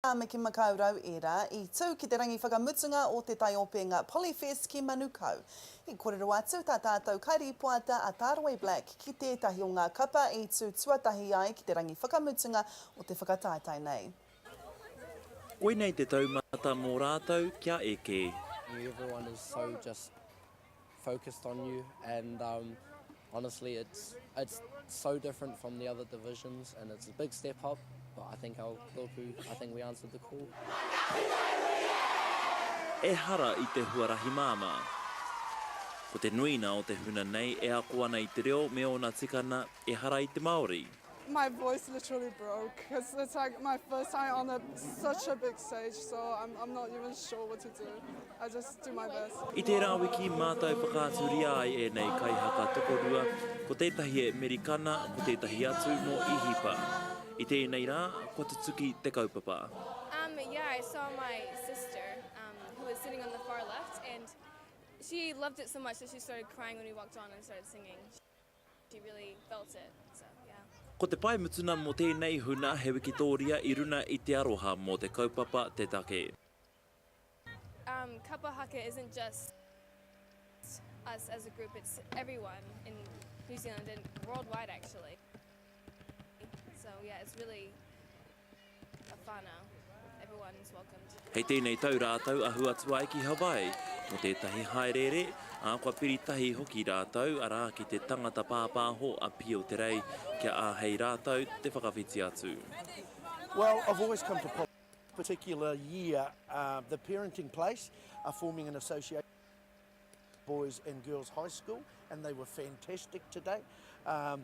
a Mikimakaurau ērā i tū ki te rangi whakamutunga o te taiopenga Polyfest ki Manukau. I kōrero atu tā tātou kairīpoata a Tāroe Black ki tētahi o ngā kapa i tū tuatahi ai ki te rangi whakamutunga o te whakataetae nei. Koinei te taumata mō rātou kia eke. focused on you and um, honestly it's it's so different from the other divisions and it's a big step up but I think our Kōku, I think we answered the call. Ehara i te huarahi māmā. Ko te nuina o te huna nei e ako ana i te reo me ōna tikanga, ehara i te Māori. My voice literally broke cuz it's like my first time on a such a big stage so I'm I'm not even sure what to do. I just do my best. I tērā wiki mātou whakaaturia ai ēnei kaihaka tokorua, ko tētahi e Merikana, ko tētahi atu mō Īhipa. I tēnei rā, kua tutuki te kaupapa. Um, yeah, I saw my sister um, who was sitting on the far left and she loved it so much that she started crying when we walked on and started singing. He really felt it, so yeah. Ko te pae mutuna mo tēnei huna he wikitoria i runa i te aroha mo te kaupapa te take. Um, kapa haka isn't just us as a group, it's everyone in New Zealand and worldwide actually. So yeah, it's really Hei tēnei tau rātou ahu atu ai ki Hawaii mō tētahi hāereere, ā, kua piri tahi hoki rātou, arā, ki te tangata pāpāho a Pio Te Rei kia āhei rātou te whakawhiti atu. Well, I've always come to particular year, uh, the parenting place are forming an association boys and girls high school and they were fantastic today. Um,